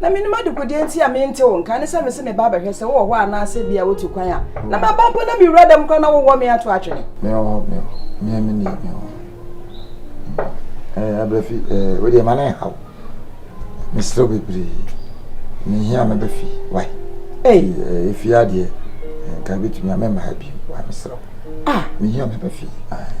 Na menim adekodeɛ nti a mente wo nka ne sɛ mese meba abɛhwɛ sɛ wowɔ hɔ anaasɛ bi a wotu kwan a na maba mpo na mewura dɛm kora na wowɔ me ato atwene mewɔ hɔ mewɔ hɔ mea me nie mewɔ hɔ abrɛfi wodeɛ ma ne nhaw mesrɛ wo bebree mehia mɛbɛfi wae ɛfie adeɛ nka bɛtumi a mɛmma ha bio wa mesrɛ wo mehia mɛbɛfi ae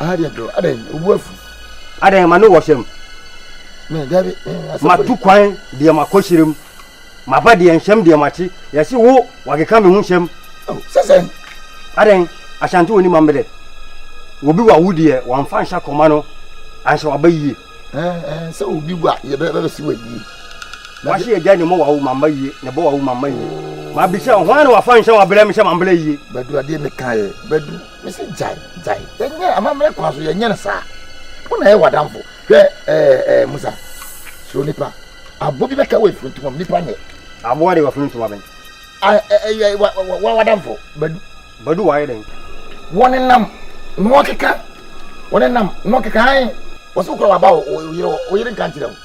adeɛ dɔ adɛn obu afu adɛn ma ne wɔ hyɛm matu kwan deɛ makɔ hyerɛ mu maba deɛ nhyɛm deɛ makye yɛse wo wakeka me ho hyɛm sɛsɛn adɛn ahyante wɔ ni ma mbɛdɛ obi wa wo deɛ wamfa nhyɛ kɔma no anhyɛ waba yie sɛ obi wa yɛbɛbɛsi wa yie wahye agya ne mɔ wa wo mamba yie ne bɔ wa wo mamba yie mabisa hwan na wafa nhyɛ wabrɛ me hyɛ mambrɛ yie bɛdu adeɛ mekaeɛ bɛdu Mese gyae, gyae. Yɛnyɛ amammerɛ kwan so, yɛnyɛ no saa. Wo na ɛyɛ w'adamfo. Hwɛ ɛɛ ɛɛ Musa, suro nipa. Aboɔ bi bɛka wɔ efuntum mu, nipa nyɛ. Aboɔ de wɔfrɛ ntoma bɛn? A ɛyɛ wa wa wa w'adamfo, Badu. Badu wayɛ dɛn? Wɔnenam na wɔkeka, wɔnenam na wɔkeka hann. Wɔse wokura w'aba a, wo yere hɔ, wo yere nka nkyerɛ wo.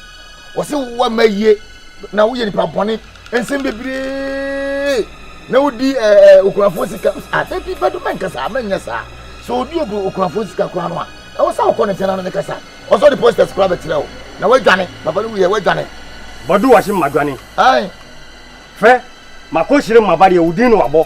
Wɔse woamma ayie na woyɛ nipa bɔne. Nsɛm bebree na wodi ɛɛ okunafoɔ sika asɛ bi bɛdo mɛnkasa a mɛnyɛ saa sɛ odi ogu okunafoɔ sika koraa no a ɛwɔ sɛ wokɔ ne nkyɛn na ne ne kasa ɔsɔ de posters koraa bɛkyerɛ wo na wadwane papa no wuyɛ wadwane Badu wahye madwane fɛ makɔ hyire maba deɛ wo din na wabɔ.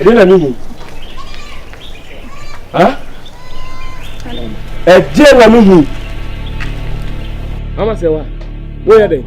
ɛdeɛ na mehu ɛdeɛ na mehu mama sɛ wa woyɛ dɛn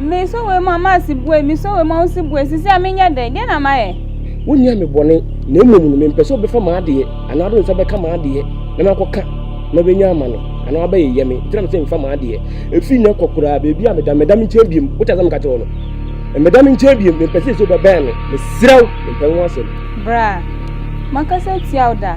Mesɔ wei mu a, m'ase bue, mesɔ wei mu a, wo se bue, sisi a menyɛ dɛn, deɛ na mayɛ? Wonyɛ me bɔne, na mmom no mempɛ sɛ wobɛfa m'adeɛ anaa wode wo nsa bɛka m'adeɛ na makɔka na wobɛnya ama me anaa wabɛyeyɛ me, nti na mese mfa m'adeɛ. Ɛfiri nnɛ kɔ koraa, baabi a meda, mmɛda me nkyɛn biom. Wote asɛm meka kyerɛ wo no? Mmɛda me nkyɛn biom, mempɛ sɛ sɛ wobɛbɛn me, mesrɛ wo, mempɛ wo ho asɛm. Bra, makasa atia wo da.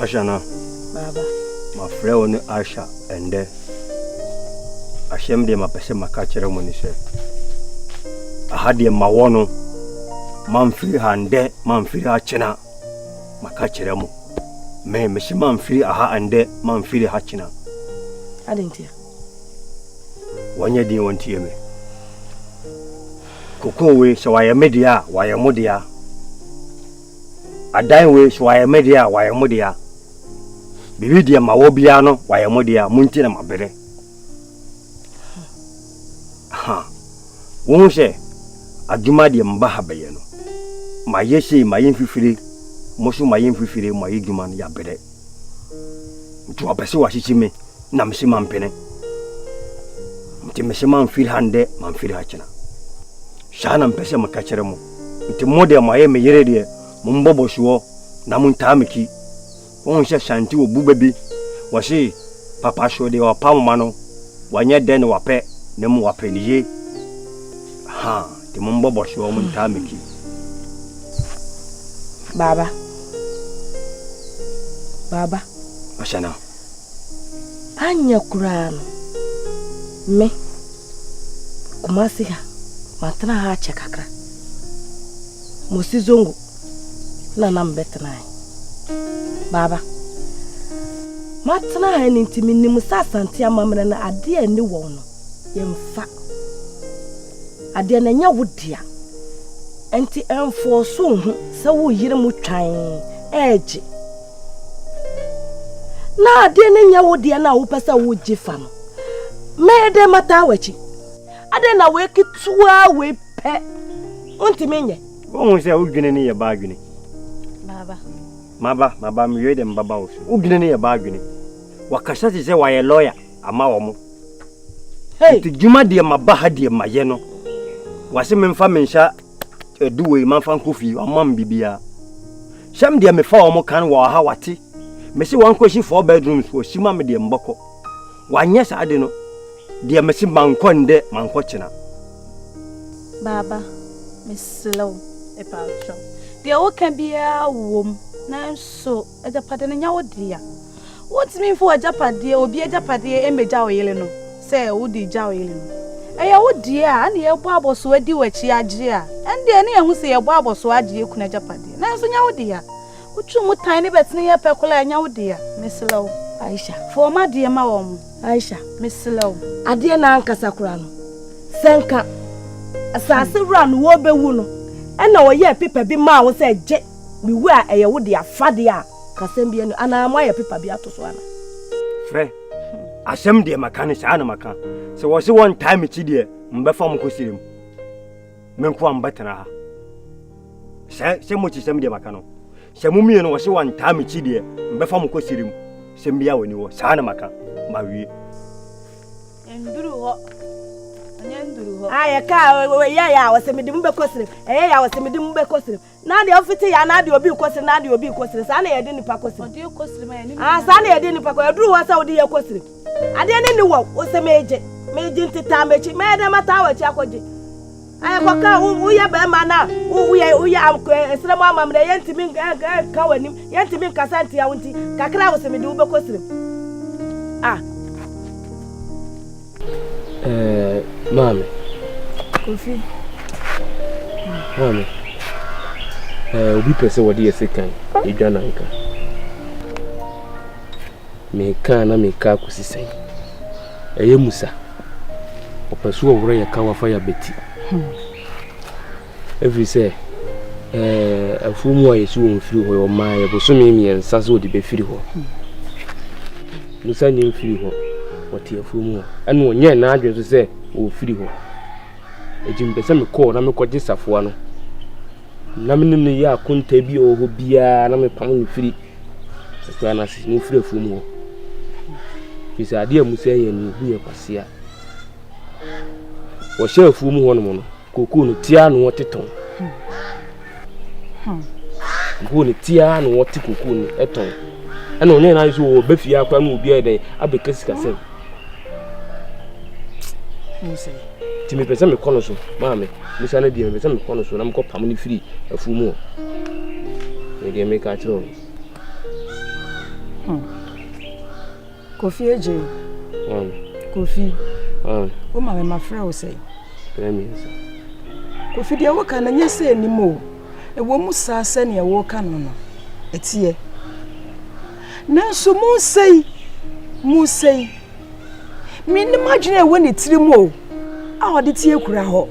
Ashana. Baba. Mafrɛ wo ne Asha ɛndɛ. Ahyɛm deɛ mapɛ sɛ maka kyerɛ mo ne sɛ aha deɛ mawɔ no mamfiri ha ndɛ mamfiri ha kyena maka kyerɛ mo me mehye mamfiri aha ndɛ mamfiri ha kyena adentia wɔnyɛ din wɔntie me kokowe sɛ wayɛ me deɛ a wayɛ mo deɛ a Adan wei so wayɛ me dea wayɛ mo dea biribi deɛ ma wɔ biara no wayɛ mo dea mo nti na ma bere ha wo ho sɛ adwuma deɛ mba ha bɛyɛ no ma yɛ sei ma yɛ mfifire mo so ma yɛ mfifire mo ayɛ dwuma no yɛ abere nti ɔpɛ sɛ wahyekye me na mese mampene nti mese mamfiri ha ndɛ mamfiri ha kyena saa na mpɛ sɛ meka kyerɛ mo nti mo deɛ moayɛ me yere deɛ mombɔbɔ soɔ na montaa me ki wohu sɛ sante wɔ bu bɛbi wɔse papa so deɛ ɔpa moma no wanyɛ dɛ ne wapɛ ne mo wapɛ ne ye ha Nti mombɔ bɔhye wɔ mo ntaa m'akyi. Baaba. Baaba. Mahyɛ no. Anyɛ koraa no, me, Kumasi ha, matena ha akyɛ kakra. Mosi zongo na na mebɛtena ha. Baaba. matena ha no nti menim sɛ asante amammerɛ no adeɛ ani wɔn no yɛmfa adeɛ no ɛnyɛ wo dea nti ɛmfoɔ so ho sɛ wo yere mu twan ɛregye na adeɛ no nyɛ wo deɛ no a wopɛ sɛ wogye fa no mɛyɛ dɛn mataa w'akyi adɛn na wei ketewa wei pɛ wontumi nyɛ wohu sɛ wodwene ne yɛ ba adwene baba maba maba meyɛ dɛ mbaba wo so wodwene ne yɛ ba adwene wakasa te sɛ wayɛ lɔya ama wɔn. Nti dwuma deɛ ma ba ha deɛ ma yɛ no. Wase me nfa me nsa ɛdu wei ma nfa nkɔ fie ɔma me bibia. Sɛm deɛ mefa wɔn kan wɔ ha wate. Mese wɔn kɔ si four bedrooms wɔ si ma me deɛ mbɔkɔ. Wanyɛ saa de no deɛ mese mankɔ ndɛ mankɔ kyena. Baaba, mesrɛ wo, mepatwɔ. Deɛ woka biara wom, nanso. Agyapade no nyɛ wo dea. Wontumi mfa w'agyapadeɛ, obi agyapadeɛ mmɛgya wo yere no sɛ wode gya wo yere no. Ɛyɛ wo deɛ a, ɛnna yɛbɔ abɔsoɔ adi w'akyi agye a, ɛnde ɛne yɛn ho sɛ yɛbɔ abɔsoɔ agye yɛn kunu agyapadeɛ. Nanso nyɛ wo dea. Wotwe mu tan ne bɛtene yɛ pɛ koraa a, ɛnyɛ wo dea. Mesrɛ wo. Aisha. Fa wɔn adeɛ ma wɔn. Aisha. Mesrɛ wo. Adeɛ no ankasa koraa no, sɛ nka asase wura no ɔrebɛwu no, ɛnna ɔyɛɛ pepa bi maa wo sɛ gye. Me wu a ɛyɛ wo dea fa deɛ a ka sɛm bi anu anaa mo ayɛ pepa bi ato so ana. Frɛ asɛm deɛ maka ne saa na maka sɛ wɔ se wɔntaa me kyi deɛ mbɛfa mo kɔ sirem me nko a mbɛtena ha sɛ sɛ mo kyi sɛm deɛ maka no sɛ mo mmienu wɔ se wɔntaa me kyi deɛ mbɛfa mo kɔ sirem sɛm bi a wɔni wɔ saa na maka mawie nduru hɔ ayɛ kaa ɛyɛ yɛ a wɔsɛ mede mo bɛkɔ sirem ɛyɛ yɛ a wɔsɛ mede mo bɛkɔ sirem Na deɛ ɔfete yɛ anaa deɛ obi rekɔsere na deɛ obi rekɔsere saa na yɛde nnipa kɔsere ah saa na yɛde nnipa kɔ ɛduru hɔ sɛ wode yɛ kɔsere adeɛ ne ne wɔ wo sɛ megye megye nte taa m'akyi mɛyɛ dɛ mataa w'akyi akɔgye ɛkɔka wo woyɛ bɛrima na wo woyɛ woyɛ amkɔ ɛsrɛ mu amammerɛ yɛntumi nka w'anim yɛntumi nkasa ntia wo nti kakra wo sɛ mede wo bɛkɔsere ah Eh, maame. Kofi. Maame. Eh, obi pɛ sɛ wɔde yɛ sekan edwa nanka. Meka na meka akosi sɛn. Ɛyɛ musa. Ɔpɛ so ɔworɔ yɛ ka wafa yɛ abɛti. Hmm. Ɛfiri sɛ afuo mu a yɛsi wɔn firi hɔ yɛ ɔmaa yɛ bosome mmiɛnsa sɛ wɔde bɛfiri hɔ musa nyɛ mfiri hɔ wɔte afuo mu hɔ ɛna ɔnyɛ n'adwene so sɛ wɔfiri hɔ ɛti mpɛ sɛ mekɔɔ na mekɔgye safoa no na me nim no yɛ akonta bi a ɔwɔ biara na mepam no firi akura no ase na ɔfiri afuo mu hɔ firi sɛ adeɛ a musa yɛ no ɛbu yɛ kwasea wɔhyɛ afuo mu hɔ nom no Koko no tia na wɔte tɔn. Koko no tia na wɔte koko no tɔn. Ɛna ɔne na nso wɔ bɛ fie akora na obi ayɛ dɛn abɛka sikasɛm. Nti mepɛ sɛ mekɔ no so maame musa no deɛ mepɛ sɛ mekɔ no so na mekɔ pam no firi afuo mu hɔ. Medeɛ meka kyerɛ wo. Hmm. Kofi Adjei, Kofi, woma me mafrɛ wo sɛn? Kofi, deɛ woka no nyɛ sɛ anim o, ɛwɔ mu saa sɛdeɛ woka no no, ɛteɛ. Nanso mu sɛi, mu sɛi, menim adwene a ɛwɔ ne tiri mu o, a ɔde tie kura hɔ.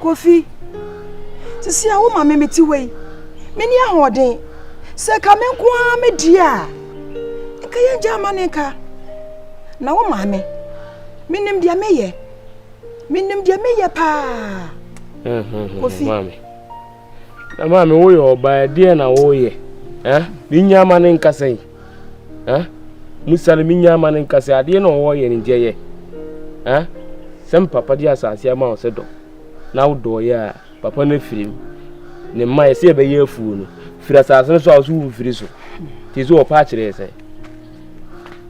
Kofi, sisi a woma me mete wei, menni ahoɔden. Sɛ ka me nko ara me deɛ a, nka yɛngya ama ne nka. Na wo maame, menim deɛ meyɛ. Menim deɛ meyɛ paa. Kofi. Na maame woyɛ ɔbaa deɛ na woyɛ. Mennya ama ne nka sɛn. Eh? Musa no, menya ama no nka sɛ adeɛ na ɔwɔ yɛ no gyɛyɛ. Eh? Sɛ mpapa de asase ama wo sɛ dɔ, na wodɔɔyɛ a, papa no afiri mu. Ne mma yɛ sɛ yɛbɛyɛ afuo no, firi asase no so a wo so womfiri so. Nti so wɔpa akyerɛ sɛ,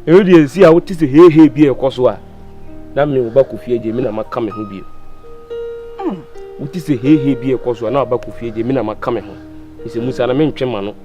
ɛno deɛ ɛsi a wote sɛ hehe bi a ɛkɔ so a, na me woba kofie gye me na maka me ho bio. Wote sɛ hehe bi a ɛkɔ so a na woba kofie gye me na maka me ho. Ɛsɛ Musa na mentwe ma no.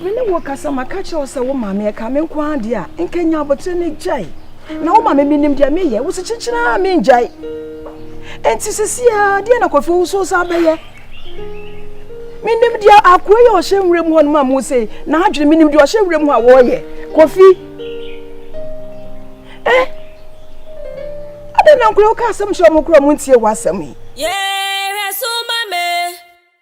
Me ne wo rekasa, maka akyerɛ wo sɛ wo maame yɛ ka me nko ara deɛ a, nka nya abotire no gyae. Na wo maame menim deɛ meyɛ, wo se kyekyere a mengyae. Enti sisi a, deɛ na Kofi wo so sɛ abɛyɛ? Menim deɛ akoa yi a ɔhyɛ nwura mu hɔ no ma mo sɛ n'adwene, menim deɛ ɔhyɛ nwura mu hɔ a wɔreyɛ. Kofi, eh, adɛn na nkora woka asɛm kyerɛ ɔmo kora ɔmo ntie w'asɛm yi? Yeah.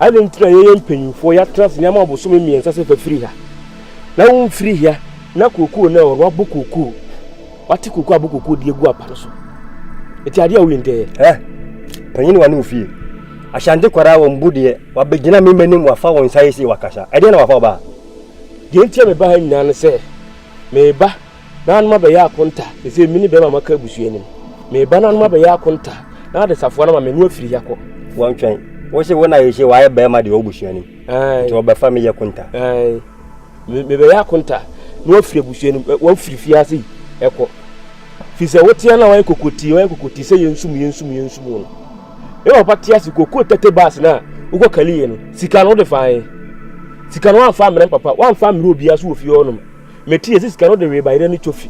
Adɛn nti na yɛyɛ mpanyimfoɔ yɛatena ase nneɛma ɔbosome mmiɛnsa sɛ fafiri ha na womfiri ha na kookoo no ɛwɔ wabɔ kookoo wate kookoo abɔ kookoo de agu apa no so ɛti adeɛ a woyɛ ntɛɛ ɛ panyini wa ne wo fie ahyante kwaraa wɔn bu deɛ wabɛgyina me m'anim wafa wɔn nsa yɛ sie wakasa ɛdeɛ na wafa ɔbaa deɛ nti a meba ha nyinaa ne sɛ meba Naanom abɛyɛ akonta, ɛsei mene bɛrima maka abusua nim. Meba naanom abɛyɛ akonta, na ade safoa no ma menu afiri ya kɔ. Wɔntwɛn. Wose wo na yɛhyɛ wayɛ bɛrima deɛ ɔbusua nim. Nti wɔbɛfa me yɛ konta. Mebɛyɛ akonta na wafiri abusua nim, wafiri fie ase ɛkɔ. Firi sɛ woteɛ na wayɛ kokotii, wayɛ kokotii sɛ yɛnsum, yɛnsum, yɛnsum no. Me papa te ase kɔkɔ tɛtɛ baase no a wokɔ kaliɛ no, sika no wode faeɛ. Sika no wamfa mmerɛ papa, wamfa mmerɛ obiara so wɔ fie hɔnom. Mete yɛsi sika no de wee bayerɛ ne cofi.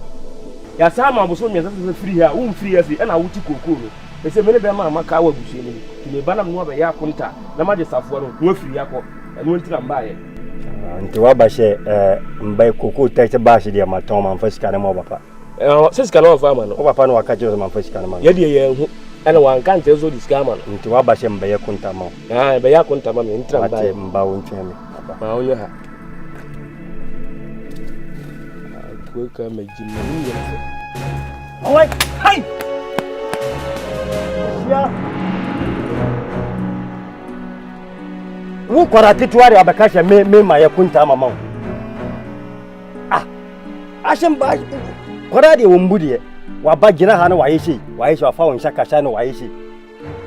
Yɛasan ama abosom mmiɛnsa sɛ sɛ firi ha a womfiri ha afei ɛna wote kookoo no. Ɛsɛ me ne bɛrima a maka wɔ abusua no mu nti meba na me ne wo abɛyɛ akonta na magye safoa no na wafiri ha akɔ. Ɛno nti na mbaeɛ. Ah, nti waba sɛ eh, mbae kookoo tɛte baahye deɛ matɔn mamfa sika no ma wo papa? Eh, sɛ sika no wamfa ama no? Wo papa no waka kyerɛ sɛ mamfa sika no ma no? Yɛ deɛ yɛanhu ɛna wanka ankyerɛ sɛ ɔde sika ama no. Nti waba sɛ mbɛyɛ konta ma wo? Ah, ɛbɛyɛ akonta ma me nti na mbaeɛ. Wate, mba wo ntwɛn me. Wo kwara ketewa de abɛka hyɛ me me ma yɛ kunta mama wo. Ah, ahyɛ mba kwara deɛ wɔn bu deɛ waba gyina ha na wayɛ sei wayɛ sei wafa wɔn nsa kasa na wayɛ sei.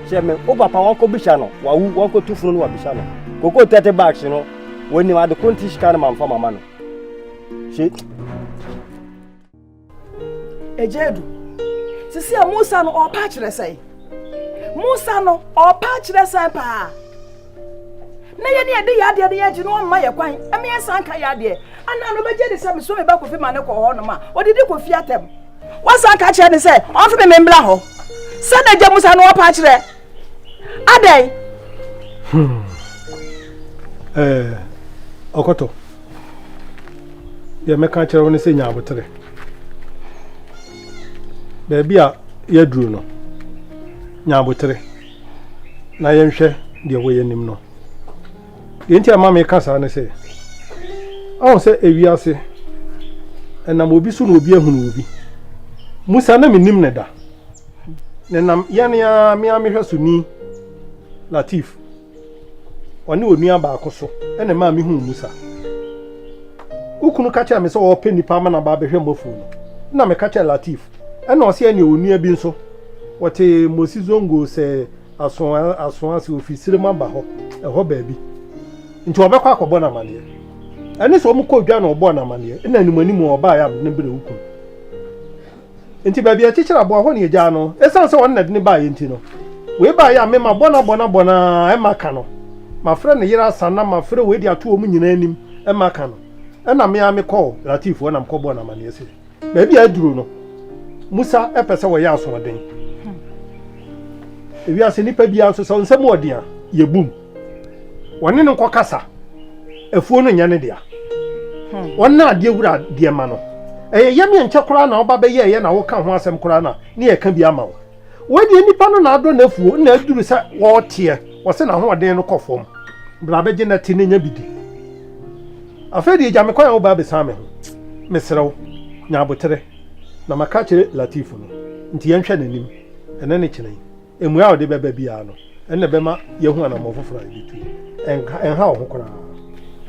Sɛ me wo papa wɔkɔ bisa no wawu wɔkɔ tu funu no wabisa no koko thirty bags no wɔnim ade ko nti sika no ma nfa mama no se. Ɛgya adu sisi a Musa no ɔpa kyerɛ sɛn Musa no ɔpa kyerɛ sɛn paa. na yɛne yɛde yɛ adeɛ no yɛgye no ɔmma yɛ kwan ɛma yɛsan ka yɛ adeɛ anaa no bɛgye de sɛ meso me ba kɔfi ma ne kɔ hɔ nom a ɔdidi kɔfi atɛm wasan ka kyerɛ ne sɛ ɔmfe me membra hɔ sɛ na gya mu sa no ɔpa kyerɛ adɛn hmm. eh, ɔkɔtɔ deɛ mɛka kyerɛ wo no sɛ nya aboterɛ baabi a yɛaduru no nya aboterɛ na yɛnhwɛ deɛ ɛwɔ yɛn anim no deɛ nti a ma meka saa ne sɛ ɔho sɛ ewiase ɛnam obi so na obi ahunu obi musa na menim ne da ne nam yɛn a me a mehwɛ so ni latif ɔne onua baako so ɛna maa mehu musa wokunu ka kyerɛ me sɛ ɔpɛ nipa ama na ba abɛhwɛ mmɔfo no na meka kyerɛ latif ɛna ɔsɛ ɛne onua bi nso Wɔte Mosi Zongo sɛ aso aso ase, ofi Sirem aba hɔ, ɛhɔ baabi. Nti ɔbɛkɔ akɔbɔ no amaneɛ. Ɛne sɛ wɔn kɔ dwa na ɔbɔɔ no amaneɛ, ɛna anim anim a ɔbaa yɛ ne bere okun. Nti baabi a ɛkyekyere aboa hɔ na egyaa no, esiane sɛ wɔn na ɛde ne baa yɛ nti no. Wei baa yɛ a me ma bɔ no abɔ no abɔ no ara, ɛma ka no. Ma frɛ ne yere asa na ma frɛ wei de ato wɔn nyinaa anim, ɛma ka no. Ɛna me ara me kɔɔ Latif hɔ na me kɔ bɔɔ no amaneɛ sɛ. baabi a aduru no musa ɛpɛ sɛ wɔyɛ asoɔden hmm. ewiase nipa biara nso sɛ nsɛm ɔden a yɛbum wɔne no nkɔkasa afuo no nyɛ ne dea hmm. wɔn na adeɛ wura deɛ ma no ɛyɛ yɛm yɛ nkyɛ koraa na ɔba bɛyɛ ɛyɛ na woka ho asɛm koraa na ne yɛka bi ama wo Wɔnyɛ nipa no na adɔ n'afuo na aduru sɛ wɔreteɛ wɔse n'ahoɔden no kɔ fam bra bɛgye na ti no nya bi di afei deɛ gya me kwan a wobaa bɛsan me ho mesrɛ wo nya abotere na maka akyerɛ Latif no nti yɛnhwɛ n'anim ɛnɛ ne kyena yi mmuae a ɔde bɛba biara no ɛnna bɛma yɛahu anammɔn foforɔ a yɛbɛtu ɛnka ɛnha wo ho koraa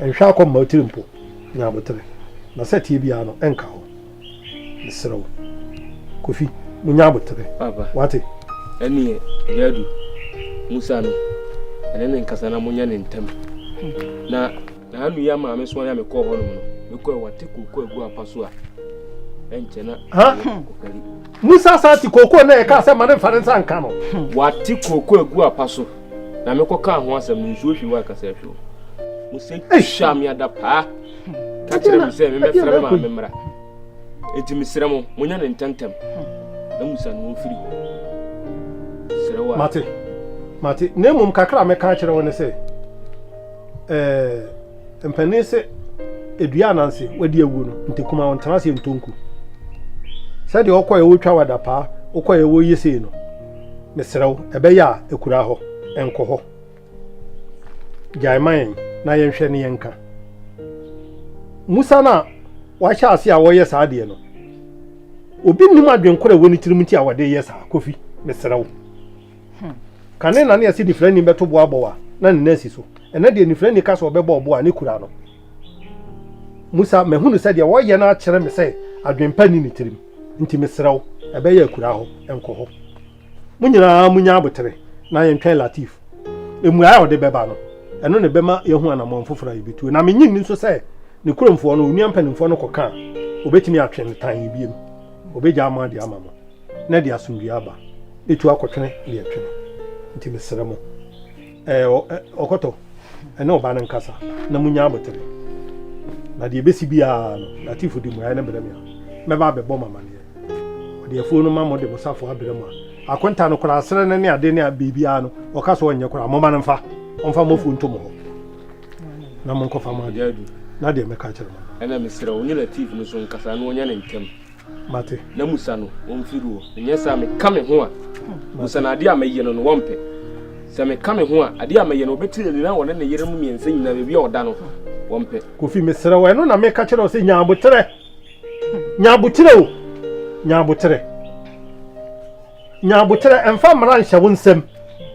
ɛnhwɛ akɔ mma tiri mpo nya abotere na sɛ tie biara no ɛnka hɔ Mesrɛ wo. Kofi, munya aboterɛ. Papa. Wate? Ɛneɛ, Gyadu, Musa no, ɛne no nkasa na monyɛ no ntɛm. Na Na'Nuya maa me soa yɛ a mekɔɔ hɔ nom no, mekɔɛ wate kookoo agu apa so a, ɛnkyɛ na ɔkari. Musa san te kookoo na yɛkaa sɛ ma ne mfa ne nsa nka no. Wate kookoo agu apa so na mekɔkaa ho asɛm no, nsuo hwee wɔ akasa ahwɛ o. Musa twa me ada paa. ka kyerɛ me sɛ memmɛfrɛ me maame mmra enti mesrɛ mo monyɛ no ntɛmntɛm na musa no mfiri hɔ serɛ wo mate mate na mmom kakra a mɛka akyerɛ wo ne sɛ ɛɛ mpanin sɛ edua ananse wadi awuo no ntekuma wo ntena ase ntonku sɛdeɛ wokɔɛ wotwa wada paa wokɔɛ woyɛ sei no mesrɛ wo ɛbɛyɛ a akura hɔ ɛnkɔ hɔ Gyae ma yɛn na yɛnhwɛ ne yɛnka. Musa no a wahyɛ ase a wɔyɛ saa deɛ no, obi nnim adwenkoro a ɛwɔ ne tirim nti a wɔde yɛ saa. Kofi, mesrɛ wo. Hmm. Kane na ne yɛse nifirani bɛto bo abɔ a na ne nan si so. Ɛnɛ deɛ nifirani ka sɛ ɔbɛbɔ ɔbo a ne kura no. Musa, mahunu sɛ deɛ wɔyɛ no akyerɛ me sɛ adwempa ni ne tirim. Nti mesrɛ wo, ɛbɛyɛ akura hɔ, ɛnkɔ hɔ. mo nyinaa munya abotere na yɛntwɛn Latif. Mmuae a ɔde bɛba no, ɛno na ɛbɛma yɛahu anammɔn foforo a yebetu. Na minnye nni nso sɛ ne kuromfoɔ no, onua mpanimfoɔ no kɔka a, obetumi atwe no tann bio. Obegyaa mo ade ama mo, na ɛde asomdwoe aba. Metu akɔtwene deɛ ɛtwe no. Enti mesrɛ mo. Ɛɛ ɔ, ɛ, ɔkɔtɔ, ɛne ɔba no nkasa na munya abotere. Na deɛ ɛbɛsi biara no, Latif de mmuaeɛ no brɛ me a, mɛba abɛbɔ mo amaneɛ. Ɔde afuo no ma mo de mo safoa brɛ mo a, akonta no koraa, serɛ no ne ade ne biribiara no, ɔka sɛ ɔnyɛ koraa. Momma no mfa, ɔmfa mo afuo nto mo hɔ, na monkɔfa mo ade, na deɛ mɛka akyerɛ mo no. Ɛna mesrɛ wo, wo ne Latif no nso nkasa na wɔnyɛ no ntɛm. Mate. Na musa no ɔmfiri hɔ. Ɛnyɛ saa meka me ho a. Musa no adeɛ a mɛyɛ no no wɔmpɛ. Sɛ meka me ho a adeɛ a mɛyɛ no ɔbɛte ani na wɔne ne yere mu mmiɛnsa nyinaa baabi a ɔda no wɔmpɛ. Kofi mesrɛ wo ɛno na meka kyerɛ wo sɛ nya aboterɛ. Nya aboterɛ o. Nya aboterɛ. Nya aboterɛ, mfa mmara nhyɛ wo nsam,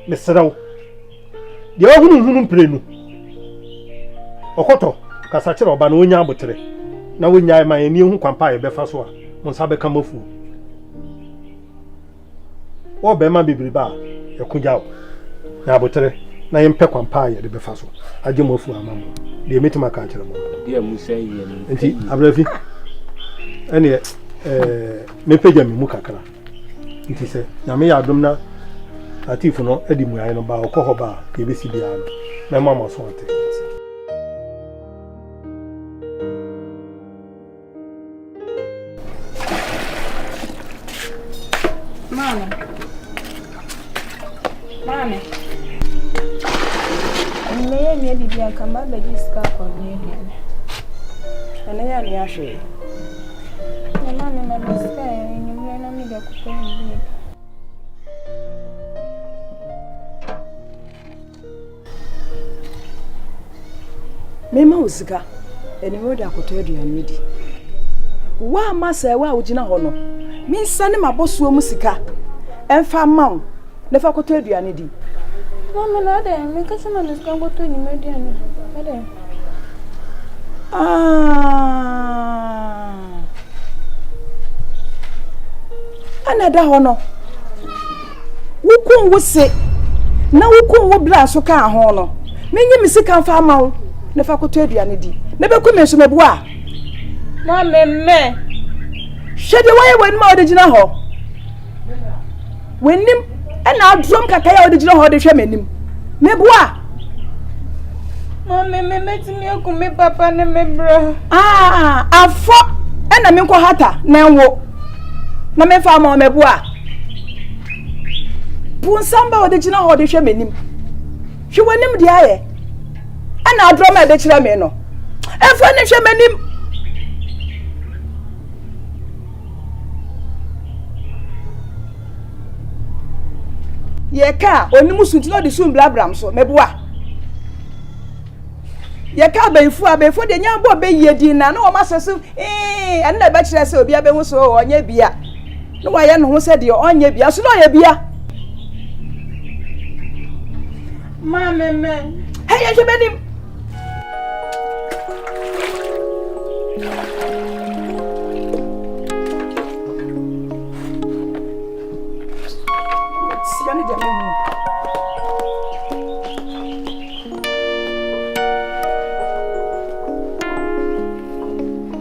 mesrɛ wo. Deɛ ɔhununhunu mprenu, ɔkɔtɔ, kasa kyerɛ ɔba na ɔnya aboterɛ, na ɔnyae ma yɛn, na yɛhu kwan pa a yɛbɛfa so a mo nsa bɛka mo afuo. Wɔ barima bebrebe a ɛko gya wo. Nya aboterɛ, na yɛmpɛ kwan pa a yɛde bɛfa so agye mo afuo ama mo. Deɛ mɛtumi aka akyerɛ mo no. Deɛ mo sɛ yɛ no. Nti, Abrɛfi, ɛneɛ, ɛɛ, mɛpagya me mu kakra. Nti sɛ Nyame yɛ adom na Lateef no de mmuaeɛ no ba a, ɔkɔ hɔ ba a, deɛ ɛbɛsi biara no, mɛma mo aso ate. Maame. Enyimeyɛ nyɛ biribi a nka mabɛgye sika akɔ aduannua no. Ɛno yɛ anwea hwee. Na maame ma me sika ɛ enyimmerɛ na mede akɔtɔ biribi adi. Mema wo sika, ɛnneɛ wode akɔtɔ aduane adi. Woamma sɛɛ wo a wogyina hɔ no, mensane m'abɔsoɔ mu sika mfa mma wo na fa kɔtɔ aduane di. Maame na adɛn meka sɛ ma me sika nkɔtɔ nnwuma aduane adɛn? Ɛna ɛda hɔ no. Wo kun wo se, na wo kun wo bra nso kaa ho no, menyi me sika mfa ama wo na fa kɔtɔ aduane di, na bɛku me nso mɛboa a? Ma memmɛ. Hwɛ deɛ wayɛ w'anim a wode gyina hɔ. W'anim ɛna adoɔm kakra a wode gyina hɔ de hwɛ m'anim. Mɛboa a? Ma memmɛ mɛtumi aku me papa ne me bra. Aa, afɔ ɛna menkɔ hata na nwo na memfa ama wo mɛboa a? po nsɛm ba wɔde gyina hɔ de hwɛ m'anim hwɛ w'anim deɛ ayɛ ɛna adorɔma a ɛbɛkyerɛ me no ɛmfa ne hwɛ m'anim yɛka a ɔnim so nti na ɔde so mbrabram so mɛboa yɛka abɛnfo a abɛnfo deɛ nyɛ abɔ bɛyie din na na wɔn asɛ so ɛɛ ɛno na ɛbɛkyerɛ sɛ obi abɛhu so ɔnyɛ bia. Na wayɛ ne ho sɛ deɛ ɔnyɛ bia so na ɔyɛ bia. Maame mɛ. Hɛ yɛ hwɛ bɛnim. Sia ne deɛ mɛ mu.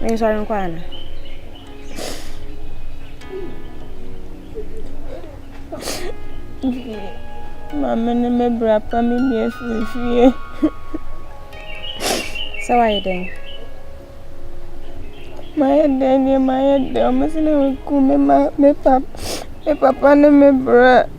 Mensɔre nkɔ ana? Maame ne me bra pa me bi afiri fie. Sɛ wayɛ dɛn? Mayɛ dɛn deɛ mayɛ dɛn ɔmo sɛ na wɔaku me ma me pap me papa ne me bra.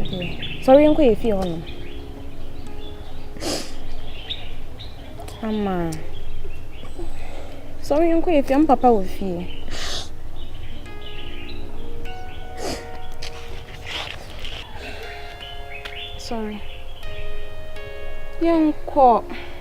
Okay, sɔre nkɔ yɛ fie hɔ nom. Tama. Sɔre nkɔ yɛ fie, papa wɔ fie. Sorry. Yɛnkɔ.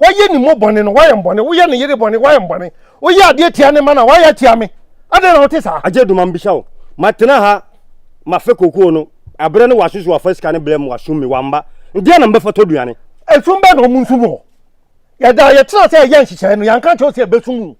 woayɛ ne mu bɔne no woayɛ mbɔne woyɛ ne yere bɔne woayɛ mbɔne woyɛ adeɛ tia ne ma no a woayɛ atia me adɛn na wote saa agye duma mbisa wo matena ha mafe kokoo no aberɛ ne w'asoso wafa sika ne blɛ mu wasum me wamba ndeɛ na mbɛfa tɔ duane. Esum bɛn na ɔmo nsum wɔ hɔ? Yɛdaa yɛtena sɛ yɛyɛ nhyehyɛe no, yɛanka ankyerɛ wo sɛ yɛbɛsum wo.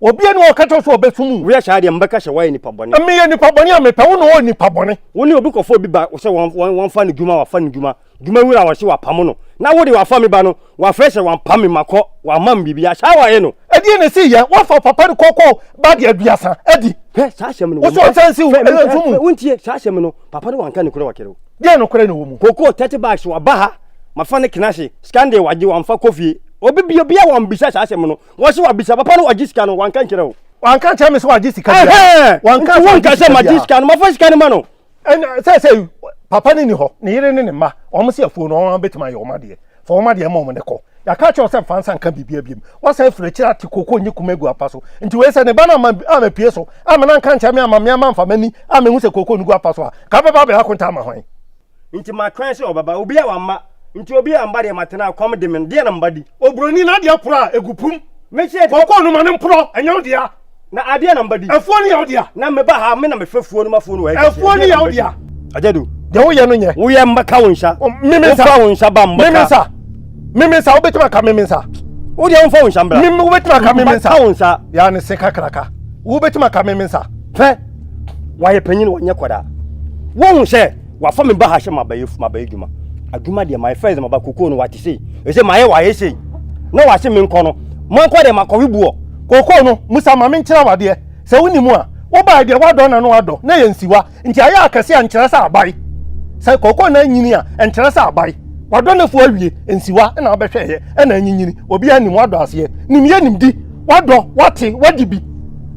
Obiara ni hɔ a ɔka kyerɛ sɛ ɔbɛsom wo. Woyɛ saa deɛ, mebɛka sɛ woayɛ nipa bɔne. Meyɛ nipa bɔne a mepɛ wo na ɔyɛ nipa bɔne. Wo ne obi kɔfa obi ba sɛ wɔmfa no dwuma, wafa no dwuma, dwuma wura wɔ se wapamo no, na wo de wafa me ba no, wafrɛ sɛ wampam me makɔ, wamma me biribiara. Saa ara woayɛ no. Ɛdeɛn na ɛsii yɛ? Woafa papa no kɔkɔɔ ba deɛ aduasa adi. Hwɛ, saa asɛm no wɔ mu. Wo so ɔnsa nsi wo, ɛyɛ nso mu. Wontie, saa asɛm no, papa no wanka nokorɛ wɔ kere o. Deɛn nokorɛ na ɛwɔ mu? Kɔkɔɔ thirty bags waba ha, mafa no kena ase, sika no deɛ wagye, wamfa kɔ fie. Obi bio, obiara a wammisa saa asɛm no, Wọ́n sẹ́ wà bisa papa no wà jí sika no wà nka nkyerẹ́ o. Wà nka nkyerẹ́ mi sẹ́ wà jí sika bi a. Wà nka sẹ́ wà jí sika bi a. Wà jí sika no ma fẹ́ sika no ma no. Ẹna sẹ́ sẹ́ papa ni ni hɔ ne yere ne ne mma wɔn sẹ́ afuo no wɔn abɛtumi ayɛ wɔn adeɛ fa wɔn adeɛ ma wɔn ne kɔ. Yàka kyerɛ sɛ nfa nsa nka biribi abiem wasan afiri akyire ate koko nye kuma egu apa so nti wei sɛ ne ba no ama ama pie so ama na nka nkyerɛ mi ama mi ama nfa m'ani ama ehu sɛ koko no gu apa so a ka bɛba abɛyɛ akonta ama hwan. nti matwɛn sɛ ɔbɛba. Obiara wamma, nti obiara amma deɛ matena a kɔm de me no, deɛ na meba di? Oburoni no adeɛ porɔ a ɛgu pum. Mese. Kɔkɔɔ no ma no mporɔ, ɛnyɛ wo dea. Na adeɛ na meba di? Afuo no yɛ wo dea. Na meba ha, me na mefɛ fuo no ma fuo no wɔ ha kɛseɛ, Afuo no deɛ na yɛ wo meba di? dea. Agyadu, deɛ woyɛ no nyɛ. Woyɛ mmɛka wo nsa. O, me me nsa. Womfa wo nsa ba mmɛka. Me me nsa. Me me nsa, wobɛtumi aka me me nsa? Wodeɛ womfa wo nsa mbra. Me me, wobɛtumi aka me me nsa? Mɛka wo nsa. Yaa ne se kakraka. Wobɛtumi aka me me nsa? Fɛ. wayɛ panyin wɔnyɛ kɔda wɔn sɛ wafa mi ba ha sɛ mabɛyɛ mabɛyɛ dwuma adwuma deɛ my first maba koko no wate sei ɛsɛ mayɛ wayɛ sei na wase me nkɔ no mankɔ deɛ makɔwe buɔ koko no musa ma menkyerɛ wadeɛ sɛ woni mu a wobaa deɛ wadɔ na no adɔ na yɛ nsiwa nti ayɛ akɛse a nkyerɛ sɛ abae sɛ koko na anyini a nkyerɛ sɛ abae wadɔ no fo awie nsiwa na wabɛhwɛɛyɛ ɛna anyinyini obi anim wadɔ aseɛ nimyɛ nimdi wadɔ wate wadi bi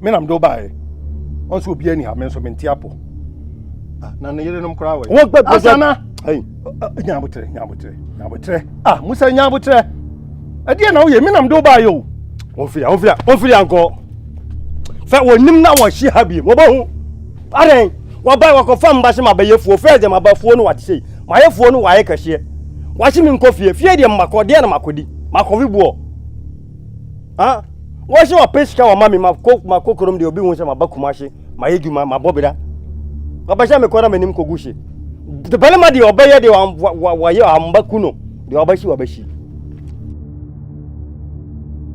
me na mede wo baeɛ ɔnso obiara ni ha me nso mente apɔ ah, na ne yerenom koraa wɔ yɛ asana nyabotrɛ nyabotrɛ nyabotrɛ ah musa nyabotrɛ ɛdeɛ na woyɛ me na mede wo baeɛ o wɔmfiri a wɔmfiri a wɔmfiri ankɔ fɛ wɔnim na wɔhye ha biem wɔbɛhu adɛn wɔbɛn wɔkɔfa mba se mabayɛfuo fɛ deɛ mabafuo no wate sei mayɛfuo no wayɛ kɛseɛ wahye me nkɔ fie fie deɛ mmakɔ deɛ na makɔdi makɔwe boɔ wɔn sɛ wɔpɛ sika wɔma me ma kokorom deɛ obi hu sɛ maba kuma hye mayɛ dwuma mabɔ bera wɔpɛ sɛ mekɔ na m'anim kɔgu hye de barima deɛ ɔbɛyɛ deɛ wɔyɛ amba ku no deɛ ɔbɛhye wɔbɛhye